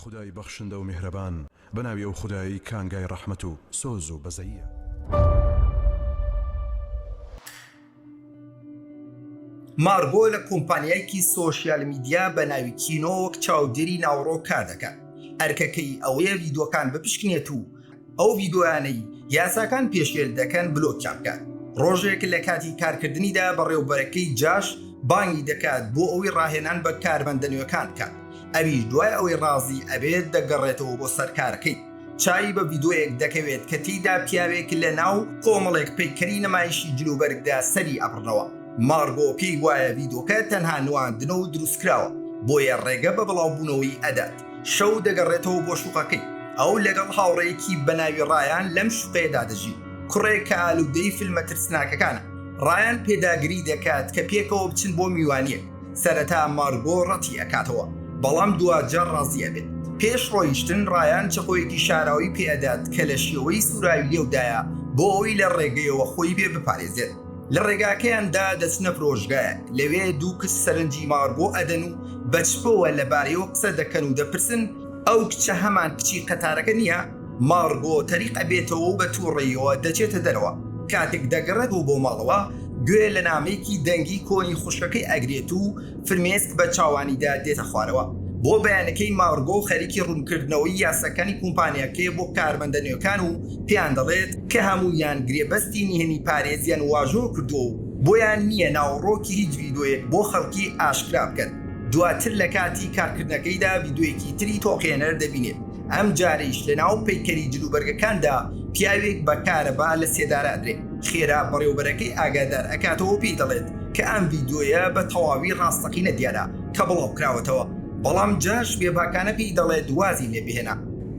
خودای بەخشندە و میهرەبان بەناوی ئەو خدایی کانگای ڕەحمەت و سۆز و بەزەیە. مارگۆ لە کۆمپانیایکی سۆشیال میدیا بە ناوی کینۆ وەک چاودێری ناوڕۆ کار دەکات ئەرکەکەی ئەوەیە ڤیدۆکان بپشکنێت و ئەو ڤیدۆیانەی یاساکان پێشێل دەکەن بلۆکیان بکات ڕۆژێک لە کاتی کارکردنیدا بەڕێوبەرەکەی جاش بانگی دەکات بۆ ئەوەی ڕاهێنان بە کارمەندە نوێکان بکات ئەویش دوای ئەوەی ڕازی ئەبێت دەگەڕێتەوە بۆ سەرکارەکەی چاوی بە ڤیدۆیەک دەکەوێت کە تێیدا پیاوێک لە ناو کۆمەڵێک پەیکەری نمایشی جلوبەرگدا سەری ئەبڕنەوە، مارگۆ پێی وایە ڤیدۆکە تەنها نواندنە و دروستکراوە، بۆیە ڕێگە بە بڵاوبوونەوەی ئەدات، شەو دەگەڕێتەوە بۆ شوقەکەی، ئەو لەگەڵ هاوڕێیەکی بە ناوی ڕایان لەم شوقەیەدا دەژین، کوڕێک کە ئالودەی فیلمە ترسناکەکانە، ڕایان پێداگری دەکات کە پێکەوە بچن بۆ میوانییەک. سەرەتا مارگۆ ڕەتی ئەکاتەوە بەڵام دواجار ڕازی ئەبێت پێش ڕۆیشتن ڕایان چەقۆیەکی شاراوی پێ ئەدات کە لە شێوەی سوراوی لێودایە بۆ ئەوەی لە ڕێگەیەوە خۆی بێ بپارێزێت لە ڕێگاکەیاندا دەچنە فرۆشگایەک لەوێ دوو کچ سەرنجی مارگۆ ئەدەن و بە چپەوە لەبارەیەوە قسە دەکەن و دەپرسن ئەو کچە هەمان کچی قەتارەکە نییە؟ مار بۆ تەریق ئەبێتەوەو بە تووڕەییەوە دەچێتە دەرەوە، کاتێک دەگەڕێتەوە بۆ ماڵەوە گوێ لە نامەیەکی دەنگی کۆنی خوشکەکەی ئەگرێت و فرمێسک بە چاوانیدا دێتە خوارەوە بۆ بەیانەکەی مارگۆ خەریکی ڕوونکردنەوەی یاساکانی کومپانیاکەیە بۆ کارمەندە نوێکان و پێیان دەڵێت کە هەموویان گرێبەستی نهێنی پارێزیان واژۆ کردووە و بۆیان نییە ناوەڕۆکی هیچ ڤیدۆیەک بۆ خەڵکی ئاشکرا بکەن، دواتر لە کاتی کارکردنەکەیدا ڤیدۆیەکی تری تۆقێنەر دەبینێت. ئەم جارەیش لە ناو پەیکەری جلوبەرگەکاندا پیاوێک بە کارەبا لە سێدارە ئەدرێ. خێرا بەڕێوەبەرەکەی ئاگادار ئەکاتەوەو پێی دەڵێت کە ئەم ڤیدیۆیە بە تەواوی ڕاستەقینە دیارە کە بڵاو کراوەتەوە، بەڵام جاش بێباکانە پێی دەڵێت وازی لێ بهێنە.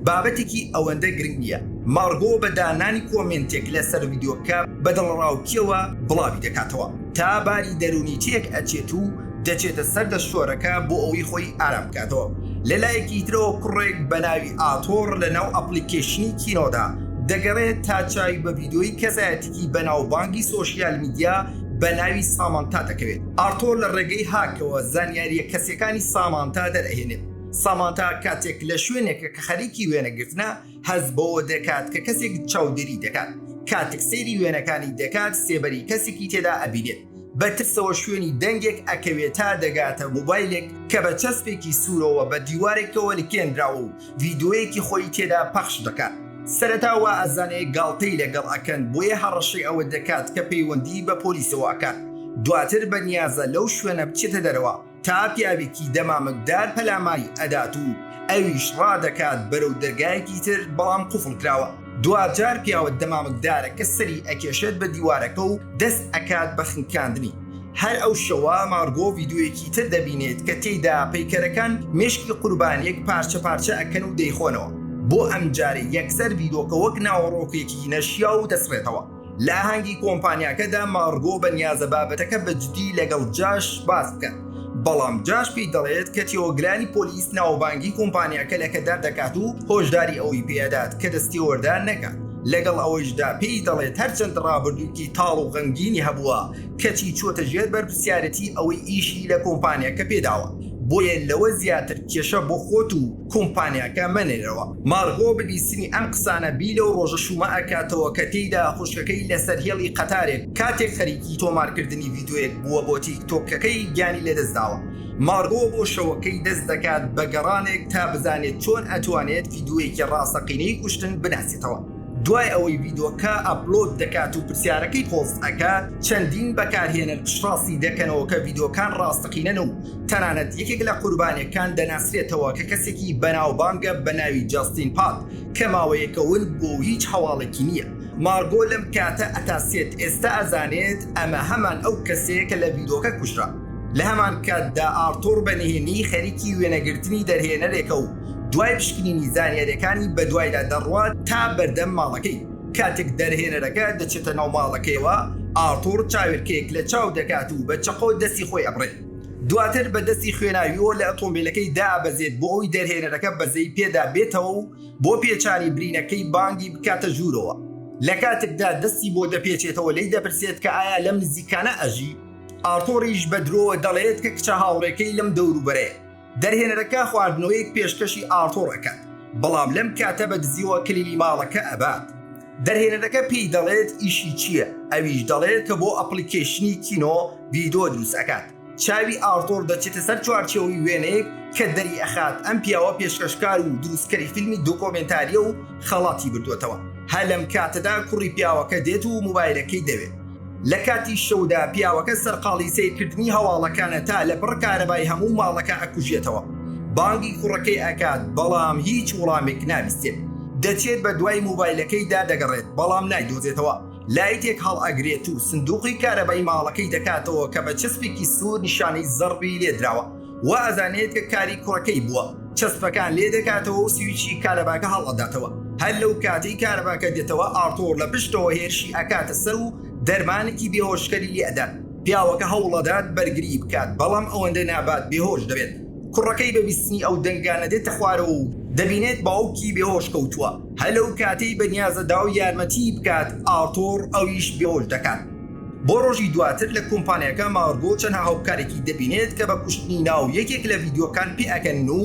بابەتێکی ئەوەندە گرنگ نییە. مارگۆ بە دانانی کۆمێنتێک لە سەر ڤیدیۆکە بە دڵەڕاوکییەوە بڵاوی دەکاتەوە. تا باری دەروونی تێک ئەچێت و دەچێتە سەر دەستشۆرەکە بۆ ئەوەی خۆی ئارام بکاتەوە، لە لایەکی ترەوە کوڕێک بە ناوی ئاتۆڕ لە ناو ئەپڵیکەیشنی کینۆدا دەگەڕێت تا چاوی بە ڤیدیۆی کەسایەتیکی بەناوبانگی سۆشیال میدیا بە ناوی سامانتا دەکەوێت ئارتۆر لە ڕێگەی هاکەوە زانیاریە کەسیەکانی سامانتا دەرئەهێنێت سامانتا کاتێک لە شوێنێکە کە خەریکی وێنەگرتنە هەست بەوە دەکات کە کەسێک چاودێری دەکات کاتێک سەیری وێنەکانی دەکات سێبەری کەسێکی تێدا ئەبینێت. بە ترسەوە شوێنی دەنگێک ئەکەوێت تا دەگاتە موبایلێک کە بە چەسپێکی سوورەوە بە دیوارێکەوە لکێنراوە و ڤیدۆیەکی خۆی تێدا پەخش دەکات سەرەتا وا ئەزانێ گاڵتەی لەگەڵ ئەکەن بۆیە هەڕەشەی ئەوە دەکات کە پەیوەندی بە پۆلیسەوە ئەکات دواتر بەنیازە لەو شوێنە بچێتە دەرەوە تا پیاوێکی دەمامکدار پەلاماری ئەدات و ئەویش ڕادەکات بەرەو دەرگایەکی تر بەڵام قوفڵ کراوە، دواجار پیاوە دەمامکدارەکە سەری ئەکێشێت بە دیوارەکە و دەست ئەکات بە خنکاندنی، هەر ئەو شەوە مارگۆ ڤیدیۆیەکی تر دەبینێت کە تێیدا پەیکەرەکان مێشکی قوربانیەک پارچە پارچە ئەکەن و دەیخۆنەوە، بۆ ئەمجارەی یەکسەر ڤیدۆکە وەک ناوەڕۆکێکی نەشیاو دەسڕێتەوە. لە ئاهەنگی کۆمپانیاکەدا مارگۆ بە نیازە بابەتەکە بە جدی لەگەڵ جاش باس بکات، بەڵام جاش پێی دەڵێت کە تێوەگلانی پۆلیس ناوبانگی کۆمپانیاکە لەکەدار دەکات و هۆشداری ئەوەی پێ ئەدات کە دەستێوەردان نەکات، لەگەڵ ئەوەیشدا پێی دەڵێت هەرچەند ڕابردوویکی تاڵ و غەمگینی هەبووە کەچی چووەتە ژێر بەرپرسیارەتی ئەوەی ئیشی لە کۆمپانیاکە پێداوە بۆیە لەوە زیاتر کێشە بۆ خۆت و کۆمپانیاکە مەنێرەوە. مارغۆ بە بیستنی ئەم قسانە بی لەو ڕۆژە شوومە ئەکاتەوە کە تێیدا خوشکەکەی لەسەر هێڵی قەتارێک کاتێک خەریکی تۆمارکردنی ڤیدۆیەک بووە بۆ تیک تۆکەکەی گیانی لەدەستداوە. مارغۆ بۆ شەوەکەی دەست دەکات بە گەڕانێک تا بزانێت چۆن ئەتوانێت ڤیدۆیەکی ڕاستەقینەی کوشتن بناسێتەوە. دوای ئەوەی ڤیدۆکە ئەپلۆد دەکات و پرسیارەکەی پۆست ئەکات چەندین بەکارهێنەر پشتڕاستی دەکەنەوە کە ڤیدۆکان ڕاستەقینەن و تەنانەت یەکێک لە قوربانیەکان دەناسرێتەوە کە کەسێکی بەناوبانگە بە ناوی جاستین پاد کە ماوەیەکە ون بووە و هیچ هەواڵێکی نییە. مارگۆ لەم کاتە ئەتا سێت ئێستا ئەزانێت ئەمە هەمان ئەو کەسەیە کە لە بیرۆکە کوژرا. لە هەمان کاتدا ئارتۆر بە نهێنیی خەریکی وێنەگرتنی دەرهێنەرێکە و دوای پشکنینی زانیاریەکانی بەدوایدا دەڕوات تا بەردەم ماڵەکەی. کاتێک دەرهێنەرەکە دەچێتە ناو ماڵەکەیەوە، ئارتۆر چاوێلکەیەک لە چاو دەکات و بە چەقۆ دەستی خۆی ئەبڕێ. دواتر بە دەستی خوێناویەوە لە ئەتۆمبیلەکەی دابەزێت بۆ ئەوی دەرهێنەرەکە بەزەی پێدا بێتەوە و بۆ پێچانی برینەکەی بانگی بکاتە ژوورەوە لە کاتێکدا دەستی بۆ دەپێچێتەوە لی دەپرسێت کە ئایا لەم نزیکانە ئەژی ئارتۆریش بە درۆوە دەڵێت کە کچە هاوڕێکەی لەم دەوروبەرەیە. دەرهێنەرەکە خواردنەوەیەک پێشکەشی ئاڕتۆڕ ئەکات، بەڵام لەم کاتە بە دزیوە کلیلی ماڵەکە ئەبات. دەرهێنەرەکە پێی دەڵێت ئیشی چییە، ئەویش دەڵێت کە بۆ ئەپڵیکەیشنی کینۆ ڤیدۆ دروست ئەکات. چاوی ئاڕتۆڕ دەچێتە سەر چوارچێوەی وێنەیەک کە دەریئەخات ئەم پیاوە پێشکەشکار و دروستکەری فیلمی دۆکۆمێنتارییە و، خەڵاتی بردووەتەوە هە لەم کاتەدا کوڕی پیاوەکە دێت و موبایلەکەی دەوێت لە کاتی شەودا پیاوەکە سەرقاڵی سەیرکردنی هەواڵەکانە تا لە بڕ کارەبای هەموو ماڵەکە ئەکوژێتەوە بانگی کوڕەکەی ئەکات بەڵام هیچ وڵامێک نابیستێت دەچێت بە دوای موبایلەکەی دا دەگەڕێت بەڵام نایدۆزێتەوە لایتێک هەڵ ئەگرێت و سندوقی کارەبای ماڵەکەی دەکاتەوە کە بە چەسپێکی سوور نیشانەی زەڕبی لێدراوە وا ئەزانێت کە کاری کوڕەکەی بووە، چەسپەکان لێ دەکاتەوە و سویچی کارەباکە هەڵ ئەداتەوە، هەر لەو کاتەی کارەباکە دێتەوە ئارتوڕ لە پشتەوە هێرشی ئەکاتە سەر و دەرمانێکی بێهۆشکەری لێ ئەدات، پیاوەکە هەوڵ ئەدات بەرگری بکات بەڵام ئەوەندە نابات بێهۆش دەبێت، کوڕەکەی بە بیستنی ئەو دەنگانە دێتە خوارەوە و دەبینێت باوکی بێهۆش کەوتووە، هەر لەو کاتەی بەنیازە داوای یارمەتیی بکات ئارتوڕ ئەویش بێهۆش دەکات. بۆ ڕۆژی دواتر لە کۆمپانیاکە مارگۆ چەند هاوکارێکی دەبینێت کە بە کوشتنی ناو یەکێک لە ڤیدیۆکان پێ ئەکەنن و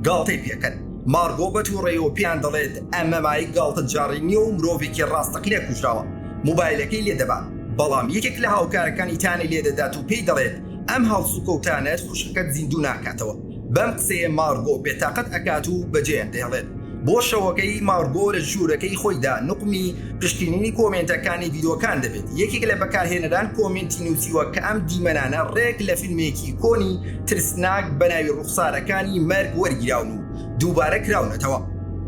گاڵتەی پێکەن مارگۆ بە توڕەیەوە پێیان دەڵێت ئەمە مایک گاڵتە جاڕی نیە و مرۆڤێکی ڕاستەقینە کوژراوە موبایلەکەی لێ دەبات بەڵام یەکێک لە هاوکارەکانی تانەی لێ دەدات و پێی دەڵێت ئەم هەڵسوکەوتانەت خوشکەکەت زیندوو ناکاتەوە. بەم قسەیە مارگۆ بێتاقەت ئەکات و بە جەیەن دەیڵێت بۆ شەوەکەی، مارگۆ لە ژوورەکەی خۆیدا نوقمی پشکنینی کۆمێنتەکانی ڤیدیۆکان دەبێت، یەکێک لە بەکارهێنەران کۆمێنتی نووسیوە کە ئەم دیمەنانە ڕێک لە فیلمێکی کۆنی ترسناک بە ناوی ڕوخسارەکانی مەرگ وەرگیراون و دووبارە کراونەتەوە،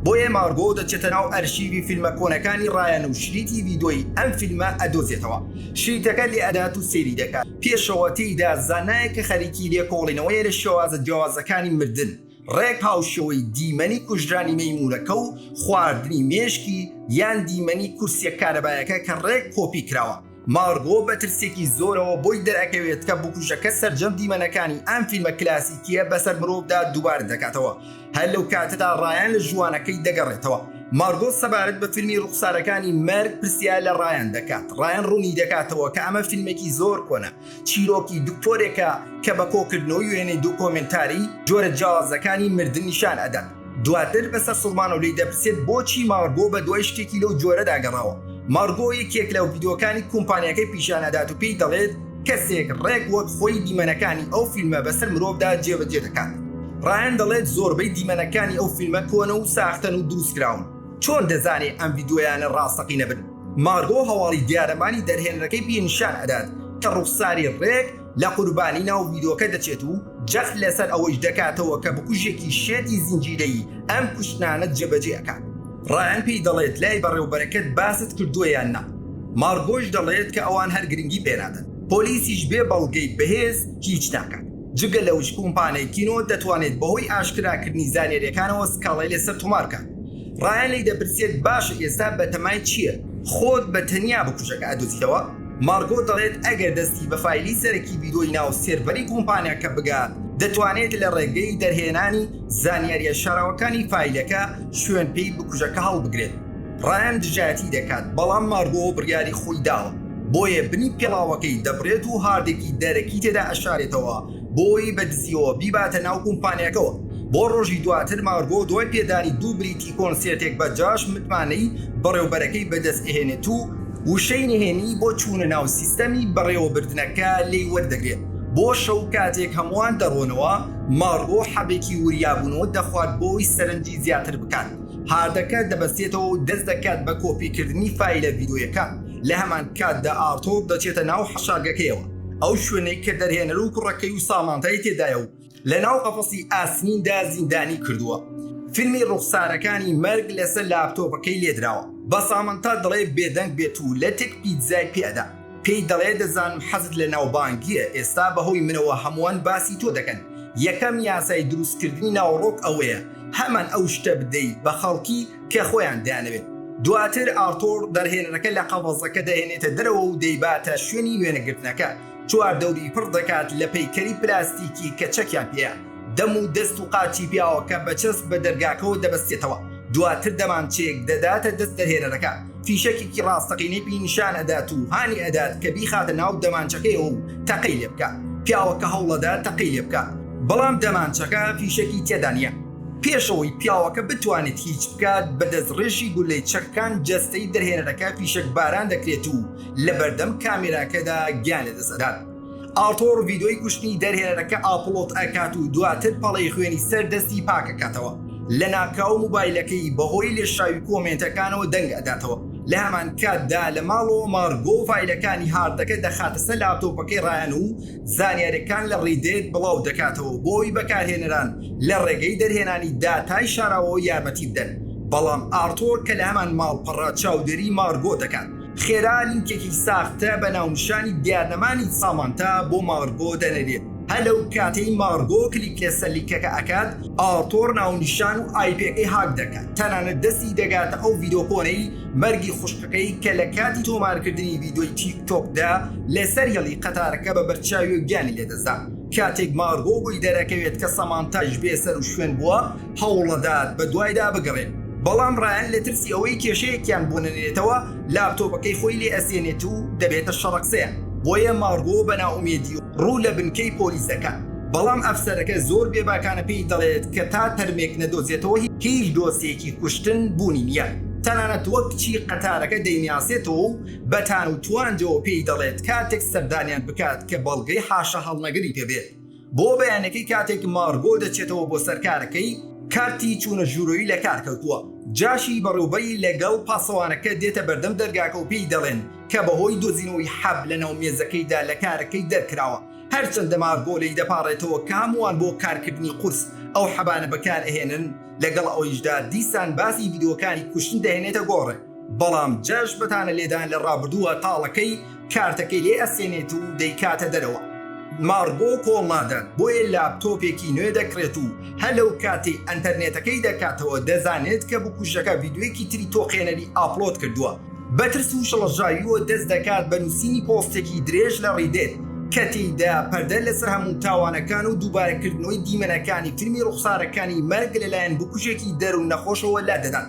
بۆیە مارگۆ دەچێتە ناو ئەرشیڤی فیلمە کۆنەکانی ڕایان و شریتی ڤیدۆی ئەم فیلمە ئەدۆزێتەوە، شریتەکە لێئەدات و سەیری دەکات. پێشەوە تێیدا زانایەکە خەریکی لێکۆڵینەوەیە لە شێوازە جیاوازەکانی مردن، ڕێک هاوشێوەی دیمەنی کوژرانی مەیموونەکە و خواردنی مێشکی یان دیمەنی کورسیە کارەبایەکە کە ڕێک کۆپی کراوە. مارگۆ بە ترسێکی زۆرەوە بۆی دەرئەکەوێت کە بکوژەکە سەرجەم دیمەنەکانی ئەم فیلمە کلاسیکیە بەسەر مرۆڤدا دووبارە دەکاتەوە، هەر لەو کاتەدا ڕایان لە ژووانەکەی دەگەڕێتەوە. مارگۆ سەبارەت بە فیلمی ڕووخسارەکانی مەرگ پرسیار لە ڕایان دەکات. ڕایان ڕوونی دەکاتەوە کە ئەمە فیلمێکی زۆر کۆنە، چیرۆکی دکتۆرێکە کە بە کۆکردنەوەی وێنەی دۆکۆمێنتاری جۆرە جیاوازەکانی مردن نیشان ئەدات. دواتر بە سەرسوڕمانەوە لێی دەپرسێت بۆچی مارگۆ بە دوای شتێکی لەو جۆرەدا گەڕاوە. مارگۆ یەکێک لە ڤیدیۆکانی کۆمپانیاکەی پیشان ئەدات و پێی دەڵێت، کەسێک ڕێک وەک خۆی دیمەنەکانی ئەو فیلمە بەسەر مرۆڤدا جێبەجێ دەکات. ڕایان دەڵێت زۆربەی دیمەنەکانی ئەو فیلمە کۆنە و ساختەن و دروستکراون. چۆن دەزانێ ئەم ڤیدیۆیانە ڕاستەقینە بن؟ مارگۆ هەواڵی دیارەمانی دەرهێنەرەکەی پێ نیشان ئەدات کە ڕوخساری ڕێک لە قوربانی ناو ڤیدۆکە دەچێت و، جەخت لەسەر ئەوەیش دەکاتەوە کە بکوژێکی شێتی زنجیرەیی ئەم کوشتنانە جێبەجێ ئەکات. ڕایان پێی دەڵێت لای بەڕێوبەرەکەت باست کردووە یان نا؟ مارگۆش دەڵێت کە ئەوان هەر گرنگی پێنادەن. پۆلیسیش بێ بەڵگەی بەهێز هیچ ناکات. جگە لەوەش کۆمپانیای کینۆ دەتوانێت بەهۆی ئاشکراکردنی زانیارییەکانەوە سکاڵای لەسەر تۆمار بکات. ڕایان لێی دەپرسێت باشە ئێستا بەتەمای چییە؟ خۆت بە تەنیا بکوژەکە ئەدۆزیتەوە؟ مارگۆ دەڵێت ئەگەر دەستی بە فایلی سەرەکی بیرۆی ناو سێرڤەری کۆمپانیاکە بگات، دەتوانێت لە ڕێگەی دەرهێنانی زانیارییە شاراوەکانی فایلەکە شوێن پێی بکوژەکە هەڵبگرێت. ڕایان دژایەتی دەکات، بەڵام مارگۆ بڕیاری خۆی داوە، بۆیە بنی پێڵاوەکەی دەبڕێت و هاردێکی دەرەکی تێدا ئەشارێتەوە بۆی بە دزییەوە بیباتە ناو کۆمپانیاکەوە. بۆ ڕۆژی دواتر مارگۆ دوای پێدانی دوو بلیتی کۆنسێرتێک بە جاش متمانەی بەڕێوبەرەکەی بەدەستئەهێنێت و، وشەی نهێنی بۆ چوونە ناو سیستەمی بەڕێوەبردنەکە لێی وەردەگرێت بۆ شەو کاتێک هەمووان دەڕۆنەوە ماڕوۆ حەبێکی وریابوون و دەخوات بۆی سەرنجی زیاتر بکات هاردەکە دەبەستێتەوە و دەست دەکات بە کۆپی کردنی فایلە ڤیدۆیەکە لە هەمان کاتدا ئارتۆر دەچێتە ناو حەشارگەکەیەوە ئەو شوێنەی کە دەرهێنەر و کوڕەکەی و سامانتای تێدایە و لە ناو قەفەسی ئاسنیندا زیندانی کردووە فیلمی ڕوخسارەکانی مەرگ لەسەر لاپتۆپەکەی لێدراوە بە سامەنتا دەڵێ بێدەنگ بێت و لەتێک پیتزای پێ ئەدا پێی دەڵێ دەزانم حەزت لە ناوبانگیە ئێستا بەهۆی منەوە هەمووان باسی تۆ دەکەن یەکەم یاسای دروستکردنی ناوەڕۆک ئەوەیە هەمان ئەو شتە بدەی بە خەڵکی کە خۆیان دەیانەوێت دواتر ئارتۆر دەرهێنەرەکە لە قەفەزەکە دەهێنێتە دەرەوە و دەیباتە شوێنی وێنەگرتنەکە چواردەوری پڕ دەکات لە پەیکەری پلاستیکی کە چەکیان پێیە، دەم و دەست و قاچی پیاوەکە بە چەسپ بە دەرگاکەوە دەبەستێتەوە، دواتر دەمانچەیەک دەداتە دەست دەرهێنەرەکە، فیشەکێکی ڕاستەقینەی پێی نیشان ئەدات و هانی ئەدات کە بیخاتە ناو دەمانچەکەیەوە و تەقەی لێ بکات، پیاوەکە هەوڵئەدات تەقەی لێ بکات، بەڵام دەمانچەکە فیشەکی تێدا نییە، پێش ئەوەی پیاوەکە بتوانێت هیچ بکات بە دەستڕێژی گولەی چەکەکان جەستەی دەرهێنەرەکە فیشەک باران دەکرێت و لە بەردەم کامێراکەدا گیان لەدەست ئەدات ئاڵتۆڕ ڤیدۆی کوشتنی دەرهێنەرەکە ئاپڵۆت ئەکات و دواتر پەڵەی خوێنی سەر دەستی پاکەکاتەوە لە ناکاو موبایلەکەی بەهۆی لێشاوی کۆمێنتەکانەوە دەنگ ئەداتەوە لە هەمان کاتدا لە ماڵەوە مارگۆ فیلەکانی هاردەکە دەخاتە سەر لاپتۆپەکەی ڕایان و زانیارەکان لە ڕیدێت بڵاو دەکاتەوە بۆی بەکارهێنەران لە ڕێگەی دەرهێنانی داتای شاراوەوە یارمەتی بدەن بەڵام ئارتۆر کە لە هەمان ماڵپەڕە چاودێری مارگۆ دەکات خێرا لینکێکی ساختە بە ناونیشانی دیارنەمانی سامانتا بۆ مارگۆ دەنێرێت، هەر لەو کاتەی مارگۆ کلیک لەسەر لینکەکە ئەکات، ئارتۆر ناونیشان و ئایپیەکەی هاک دەکات، تەنانەت دەستی دەگاتە ئەو ڤیدۆ کۆنەی مەرگی خوشکەکەی کە لە کاتی تۆمارکردنی ڤیدۆی تیک تۆکدا لەسەر هێڵی قەتارەکە بە بەرچاویەوە گیانی لەدەستدا، کاتێک مارگۆ بۆی دەرەکەوێت کە سامانتایش بێ سەروشوێن بووە، هەوڵەدات بەدوایدا بگەڕێت، بەڵام ڕایان لە ترسی ئەوەی کێشەیەکیان بۆ نەنێتەوە لاپتۆپەکەی خۆی لێ ئەسێنێت و دەبێتە شەڕەقسەیان، بۆیە مارگۆ بە نائومێدی ڕوو لە بنکەی پۆلیس دەکات، بەڵام ئەفسەرەکە زۆر بێباکانە پێی دەڵێت کە تا تەرمێک نەدۆزێتەوە هیچ دۆسێکی کوشتن بوونی نییە، تەنانەت وەک کچی قەتارەکە دەیناسێتەوە و بە تان و توانجەوە پێی دەڵێت کاتێک سەردانیان بکات کە بەڵگەی حاشاهەڵنەگری پێ بێت. بۆ بەیانەکەی کاتێک مارگۆ دەچێتەوە بۆ سەر کارەکەی، کارتی چوونە ژوورۆی لە کار کەوتووە، جاشی بەڕێوبەری لەگەڵ پاسەوانەکە دێتە بەردەم دەرگاکە و پێی دەڵێن کە بەهۆی دۆزینەوەی حەب لەناو مێزەکەیدا لە کارەکەی دەرکراوە، هەرچەندە مارگۆ لێی دەپاڕێتەوە کە هەمووان بۆ کارکردنی قورس ئەو حەبانە بەکار ئەهێنن، لەگەڵ ئەوەیشدا دیسان باسی ڤیدیۆکانی کوشتن دەهێنێتە گۆڕێ، بەڵام جاش بە تانە لێدان لە ڕابردووە تاڵەکەی، کارتەکەی لێ ئەسێنێت و دەیکاتە دەرەوە. مارگۆ کۆڵنادات بۆیە لاپتۆپێکی نوێ دەکڕێت و هەر لەو کاتەی ئەنتەرنێتەکەی دەکاتەوە دەزانێت کە بکوژەکە ڤیدیۆیەکی تری تۆقێنەری ئاپلۆد کردووە، بە ترس و شڵەژاویوە دەست دەکات بە نووسینی پۆستێکی درێژ لە ڕیدێت کە تێیدا پەردە لەسەر هەموو تاوانەکان و دووبارەکردنەوەی دیمەنەکانی فیلمی ڕوخسارەکانی مەرگ لەلایەن بکوژێکی دەروون نەخۆشەوە لادەدات.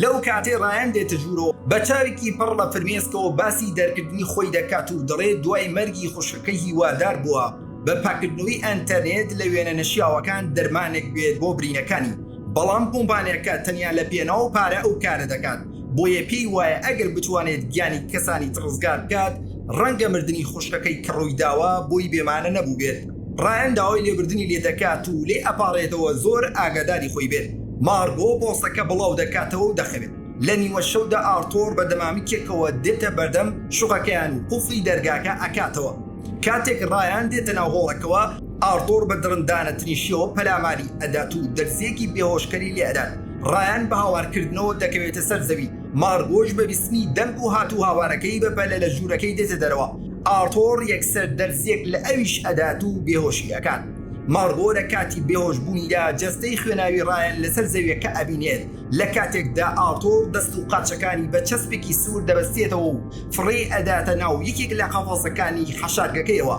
لەو کاتەی ڕایان دێتە ژوورەوە، بە چاوێکی پڕ لە فرمێسکەوە باسی دەرکردنی خۆی دەکات و دەڵێت دوای مەرگی خوشکەکەی هیوادار بووە بە پاککردنەوەی ئەنتەرنێت لە وێنە نەشیاوەکان دەرمانێک بێت بۆ برینەکانی، بەڵام کۆمپانیاکە تەنیا لە پێناو پارە ئەو کارە دەکات، بۆیە پێی وایە ئەگەر بتوانێت گیانی کەسانی تر ڕزگار بکات، ڕەنگە مردنی خوشکەکەی کە ڕوویداوە بۆی بێمانا نەبووبێت. ڕایان داوای لێبردنی لێدەکات و لێی ئەپاڕێتەوە زۆر ئاگاداری خۆی بێت، مارگۆ بۆسەکە بڵاو دەکاتەوە و دەخەوێت، لە نیوە شەودا ئارتۆر بە دەمامکێکەوە دێتە بەردەم شوقەکەیان و قوفڵی دەرگاکە ئەکاتەوە، کاتێک ڕایان دێتە ناو هۆڵەکەوە ئارتۆر بە دڕندانەترین شێوە پەلاماری ئەدات و دەرزیەکی بێهۆشکەری لێ ئەدات، ڕایان بە هاوارکردنەوە دەکەوێتە سەر زەوی، مارگۆش بە بیستنی دەنگ و هات و هاوارەکەی بە پەلە لە ژوورەکەی دێتە دەرەوە. ئارتۆر یەکسەر دەرزیەک لە ئەویش ئەدات و بێهۆشی ئەکات مارگۆ لە کاتی بێهۆش بوونیدا جەستەی خوێناوی ڕایان لەسەر زەویەکە ئەبینێت لە کاتێکدا ئارتۆر دەست و قاچەکانی بە چەسپێکی سوور دەبەستێتەوە و فڕێی ئەداتە ناو یەکێک لە قەفەزەکانی حەشارگەکەیەوە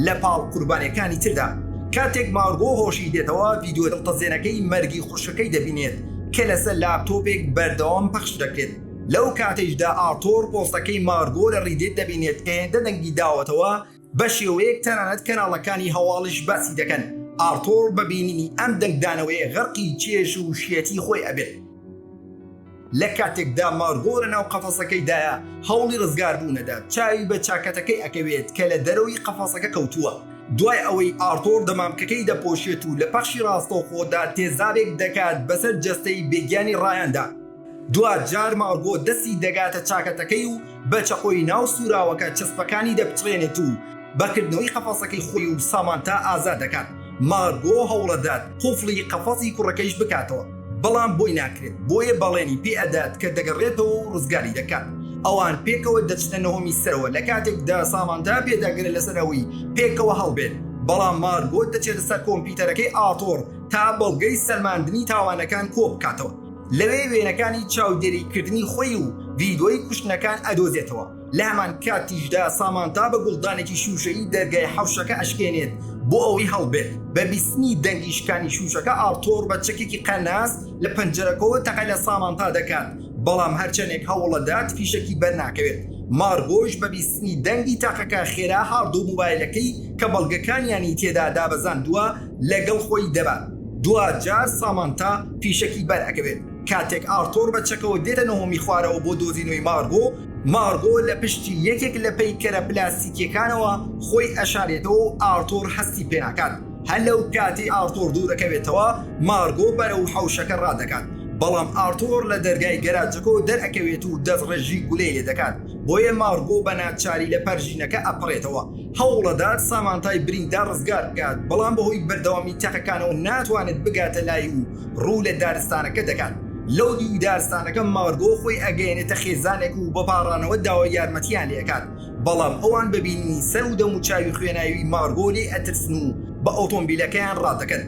لە پاڵ قوربانیەکانی تردا کاتێک مارگۆ هۆشی دێتەوە ڤیدیۆ دڵتەزێنەکەی مەرگی خوشکەکەی دەبینێت کە لەسەر لاپتۆپێک بەردەوام پەخش دەکرێت. لەو کاتەیشدا ئارتۆر پۆستەکەی مارگۆ لە ریدێت دەبینێت کە هێندە دەنگی داوەتەوە بە شێوەیەک تەنانەت کەناڵەکانی هەواڵیش باسی دەکەن، ئارتۆر بە بینینی ئەم دەنگدانەوەیە غەرقی چێژ و شێتی خۆی ئەبێت. لە کاتێکدا مارگۆ لە ناو قەفەسەکەیدایە هەوڵی رزگار بوون ئەدات چاوی بە چاکەتەکەی ئەکەوێت کە لە دەرەوەی قەفەسەکە کەوتووە دوای ئەوەی ئارتۆر دەمامکەکەی دەپۆشێت و لە پەخشی راستەوخۆدا تێزابێک دەکات بەسەر جەستەی بێگیانی رایاندا دوا جار مارگۆ دەستی دەگاتە چاکەتەکەی و بە چەقۆی ناو سووراوەکە چەسپەکانی دەپچڕێنێت و بە کردنەوەی قەفەسەکەی خۆی و سامانتا ئازاد دەکات، مارگۆ هەوڵەدات قوفڵی قەفەسی کوڕەکەیش بکاتەوە بەڵام بۆی ناکرێت بۆیە بەڵێنی پێ ئەدات کە دەگەڕێتەوە و ڕزگاری دەکات ئەوان پێکەوە دەچنە نهۆمی سەرەوە لە کاتێکدا سامانتا پێداگرە لەسەر ئەوەی پێکەوە هەڵبێن بەڵام مارگۆ دەچێتە سەر کۆمپیوتەرەکەی ئارتۆڕ تا بەڵگەی سەلماندنی تاوانەکان کۆبکاتەوە. لەوێ وێنەکانی چاودێری کردنی خۆی و ڤیدۆی کوشتنەکان ئەدۆزێتەوە، لە هەمان کاتیشدا سامانتا بە گوڵدانێکی شووشەیی دەرگای حەوشەکە ئەشکێنێت بۆ ئەوەی هەڵبێت، بە بیستنی دەنگی شکانی شووشەکە ئارتۆر بە چەکێکی قەناس لە پەنجەرەکەوە تەقە لە سامانتا دەکات، بەڵام هەرچەندێک هەوڵەدات فیشەکی بەرناکەوێت، مارگۆش بە بیستنی دەنگی تاقەکە خێرا هارد و موبایلەکەی کە بەڵگەکانیانی تێدا دابەزاندووە، لەگەڵ خۆی دەبات، دواجار سامانتا فیشەکی بەرئەکەوێت کاتێک ئارتۆر بە چەکەوە دێتە نهۆمی خوارەوە بۆ دۆزینەوەی مارگۆ، مارگۆ لە پشتی یەکێک لە پەیکەرە پلاستیکیەکانەوە خۆی ئەشارێتەوە و ئارتۆر هەستی پێناکات، هەر لەو کاتەی ئارتۆر دوورەکەوێتەوە مارگۆ بەرەو حەوشەکە ڕادەکات، بەڵام ئارتۆر لە دەرگای گەراجەکەوە دەرئەکەوێت و دەستڕێژی گولەی لێدەکات، بۆیە مارگۆ بە ناچاری لە پەرژینەکە ئەپەڕێتەوە، هەوڵدەدات سامانتای بریندار ڕزگار بکات، بەڵام بەهۆی بەردەوامی تەقەکانەوە ناتوانێت بگاتە لای و ڕوو لە دارستانەکە دەکات، لەودیوی دارستانەکە مارگۆ خۆی ئەگەیەنێتە خێزانێک و بەپاڕانەوە داوای یارمەتییان لێئەکات، بەڵام ئەوان بە بینینی سەر و دەموچاوی خوێناویی مارگۆ لێی ئەترسن و بە ئۆتۆمبیلەکەیان ڕادەکەن.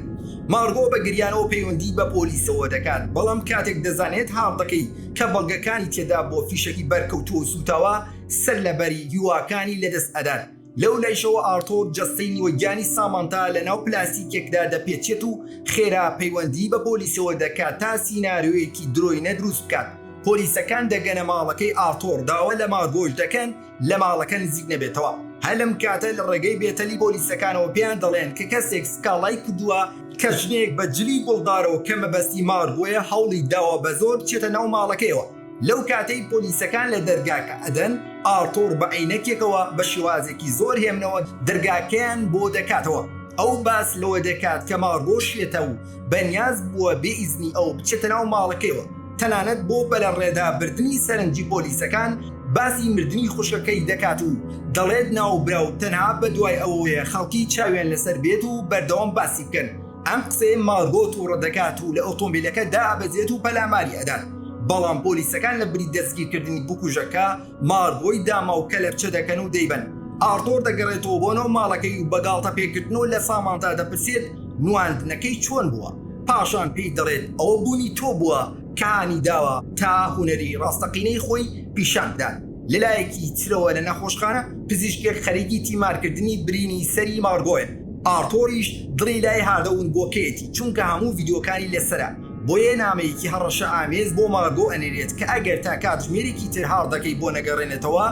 مارگۆ بە گریانەوە پەیوەندی بە پۆلیسەوە دەکات، بەڵام کاتێک دەزانێت هاڕدەکەی کە بەڵگەکانی تێدا بۆ فیشەکی بەرکەوتووە و سووتاوە، سەر لەبەری هیواکانی لەدەست ئەدات، لەو لایشەوە ئارتۆر جەستەی نیوەگیانی سامانتا لەناو پلاستیکێکدا دەپێچێت و خێرا پەیوەندی بە پۆلیسەوە دەکات تا سینارۆیەکی درۆینە دروست بکات، پۆلیسەکان دەگەنە ماڵەکەی ئارتۆر داوا لە مارگۆش دەکەن لە ماڵەکە نزیک نەبێتەوە، هەر لەم کاتە لە ڕێگەی بێتەلی پۆلیسەکانەوە پێیان دەڵێن کە کەسێک سکاڵای کردووە، کە ژنێک بە جلی گوڵدارەوە کە مەبەستی مارگۆیە هەوڵی داوە بەزۆر بچێتە ناو ماڵەکەیەوە، لەو کاتەی پۆلیسەکان لە دەرگاکە ئەدەن، ئارتۆر بە عەینەکێکەوە بە شێوازێکی زۆر هێمنەوە دەرگاکەیان بۆ دەکاتەوە. ئەو باس لەوە دەکات کە ماڕگۆشیەتە و بەنیاز بووە بێ ئیزنی ئەو بچێتە ناو ماڵەکەیەوە. تەنانەت بۆ بەلەڕێدابردنی سەرنجی پۆلیسەکان باسی مردنی خوشکەکەی دەکات و دەڵێت ناوبراو تەنها بەدوای ئەوەوەیە خەڵکی چاویان لەسەر بێت و بەردەوام باسی بکەن. ئەم قسەیە مارگۆ تووڕە دەکات و لە ئۆتۆمبیلەکە دابەزێت و پەلاماری ئەدات بەڵام پۆلیسەکان لە بری دەستگیرکردنی بکوژەکە مارگۆی داما و کەلەپچە دەکەن و دەیبەن ئارتۆر دەگەڕێتەوە بۆ ناو ماڵەکەی و بەگاڵتە پێکردنەوە لە سامانتا دەپرسێت نواندنەکەی چۆن بووە پاشان پێی دەڵێت ئەوە بوونی تۆ بووە کە هانی داوە تا هونەری ڕاستەقینەی خۆی پیشان بدات لەلایەکی ترەوە لە نەخۆشخانە پزیشکێک خەریکی تیمارکردنی برینی سەری مارگۆیە، ئارتۆریش دڵی لای هاردەوون بۆکەیەتی چونکە هەموو ڤیدیۆکانی لەسەرە، بۆیە نامەیەکی هەڕەشەئامێز بۆ مارگۆ ئەنێرێت کە ئەگەر تا کاتژمێرێکی تر هاردەکەی بۆ نەگەڕێنێتەوە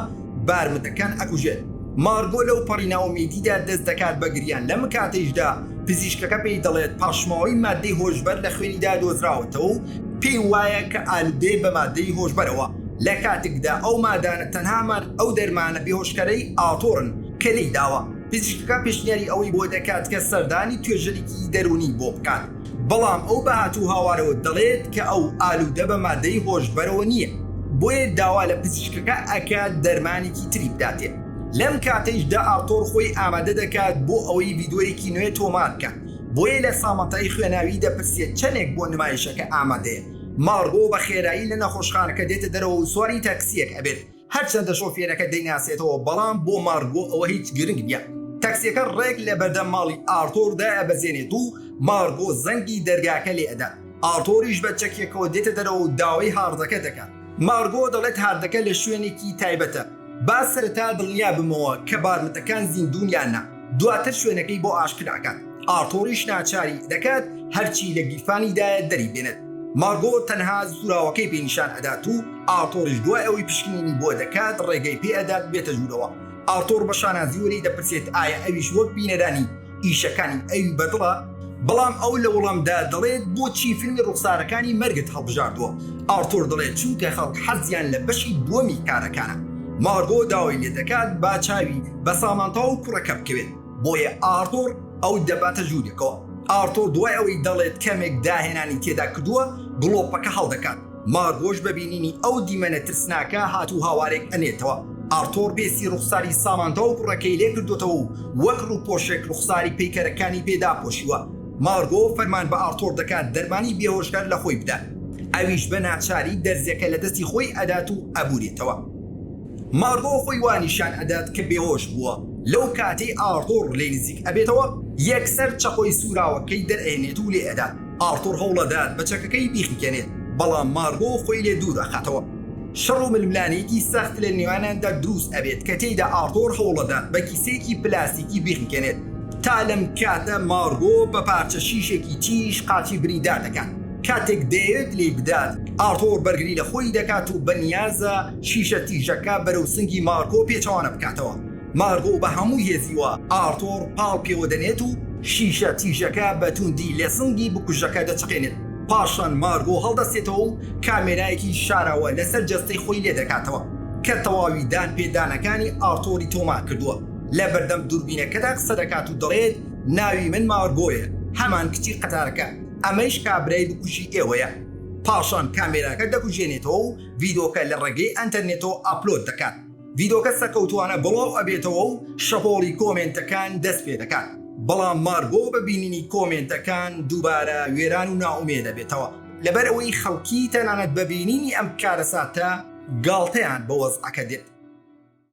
بارمتەکان ئەکوژێت. مارگۆ لەوپەڕی نائومێدیدا دەستدەکات بە گریان، لەمکاتەیشدا پزیشکەکە پێی دەڵێت پاشماوەی ماددەی هۆشبەر لە خوێنیدا دۆزراوەتەوە و پێی وایە کە ئالودەیە بە ماددەی هۆشبەرەوە لە کاتێکدا ئەو مادانە تەنها هەمان ئەو دەرمانە بێهۆشکەرەی ئاتۆرن کە لێی داوە. پزیشکەکە پێشنیاری ئەوەی بۆ دەکات کە سەردانی توێژەرێکی دەروونی بۆ بکات، بەڵام ئەو بە هاتوهاوارەوە دەڵێت کە ئەو ئالودە بە ماددەی هۆشبەرەوە نییە، بۆیە داوا لە پزیشکەکە ئەکات دەرمانێکی تری بداتێ. لەم کاتەیشدا ئاوتۆر خۆی ئامادە دەکات بۆ ئەوەی ڤیدۆیەکی نوێ تۆمار بکات، بۆیە لە سامانتای خوێناوی دەپرسێت چەنێک بۆ نمایشەکە ئامادەیە. مارگۆ بە خێرایی لە نەخۆشخانەکە دێتە دەرەوە و سواری تاکسییەک ئەبێت، هەرچەندە شۆفێرەکە دەیناسێتەوە بەڵام بۆ مارگۆ ئەوە هیچ گرنگ نییە. تاکسییەکە ڕێک لە بەردەم ماڵی ئارتۆر دایەبەزێنێت و مارگۆ زەنگی دەرگاکە لێ ئەدات، ئارتۆریش بە چەکێکەوە دێتە دەرەوە و داوای هاڕدەکە دەکات. مارگۆ دەڵێت هاردەکە لە شوێنێکی تایبەتە، با سەرەتا دڵنیا بمەوە کە بارمتەکان زیندوون یان نا، دواتر شوێنەکەی بۆ ئاشکرا ئەکات، ئارتۆریش ناچاری دەکات هەرچی لە گیرفانیدایە دەری بێنێت، مارگۆ تەنها زوراوەکەی پێ نیشان ئەدات و ئارتۆریش دوای ئەوەی پشکنینی بۆ دەکات ڕێگەی پێ ئەدات بێتە ژوورەوە، ئارتۆر بە شانازیوە لێی دەپرسێت ئایا ئەویش وەک بینەرانی. ئیشەکانی ئەوی بەدڵە بەڵام ئەو لە وڵامدا دەڵێت بۆچی فیلمی ڕوخسارەکانی مەرگت هەڵبژاردووە ئارتۆر دەڵێت چونکە خەڵک حەزیان لە بەشی دووەمی کارەکانە مارگۆ داوای لێ دەکات با چاوی بە سامانتا و کوڕەکە بکەوێت بۆیە ئارتۆر ئەو دەباتە ژوورێکەوە ئارتۆر دوای ئەوەی دەڵێت کەمێک داهێنانی تێدا کردووە گڵۆپەکە هەڵدەکات مار هۆش بە بینینی ئەو دیمەنە ترسناکە هات و هاوارێک ئەنێتەوە، ئارتۆر بێسی ڕوخساری سامانتا و کوڕەکەی لێ کردۆتەوە و وەک ڕوپۆشێک ڕوخساری پەیکەرەکانی پێ داپۆشیوە، مارگۆ فەرمان بە ئارتۆر دەکات دەرمانی بێهۆش هەر لە خۆی بدات، ئەویش بە ناچاری دەرزیەکە لە دەستی خۆی ئەدات و ئەبورێتەوە، مارگۆ خۆی وا نیشان ئەدات کە بێهۆش بووە، لەو کاتەی ئارتۆر لێی نزیک ئەبێتەوە یەکسەر چەقۆی سوراوەکەی دەرئەهێنێت و لێ ئەدات. ئارتور هەوڵەدات بە چەکەکەی بیخنکێنێت، بەڵام مارگۆ خۆی لێ دوور ئەخاتەوە. شەڕ و ململانێیەکی سەخت لە نێوانیاندا دروست ئەبێت کە تێیدا ئارتور هەوڵەدات بە کیسەیەکی پلاستیکی بیخنکێنێت، تا لەم کاتە مارگۆ بە پارچە شیشێکی تیژ قاچی بریندار دەکات، کاتێک دەیەوێت لێی بدات ئارتور بەرگری لە خۆی دەکات و بەنیازە شیشە تیژەکە بەرەو سنگی مارگۆ پێچەوانە بکاتەوە. مارغۆ بە هەموو هێزیوە ئارتۆر پاڵ پێوە دەنێت و شیشە تیژەکە بە تووندی لە سنگی بکوژەکە دەچەقێنێت، پاشان مارغۆ هەڵدەستێتەوە و کامێرایەکی شاراوە لەسەر جەستەی خۆی لێدەکاتەوە کە تەواوی دان پێ دانەکانی ئارتۆری تۆمار کردووە، لە بەردەم دووربینەکەدا قسە دەکات و دەڵێت ناوی من مارغۆیە، هەمان کچی قەتارەکە، ئەمەیش کابرای بکوژی ئێوەیە. پاشان کامێراکە دەکوژێنێتەوە و ڤیدۆکە لە ڕێگەی ئەنتەرنێتەوە ئاپلۆد دەکات. ڤیدۆکە سەکەوتوانە بڵاو ئەبێتەوەو شەپۆڵی کۆمێنتەکان دەست پێ دەکات بەڵام مارگۆ بە بینینی کۆمێنتەکان دووبارە وێران و نائومێد ئەبێتەوە لەبەر ئەوەی خەڵکی تەنانەت بە بینینی ئەم کارەساتە گاڵتەیان بە وەزعەکە دێت.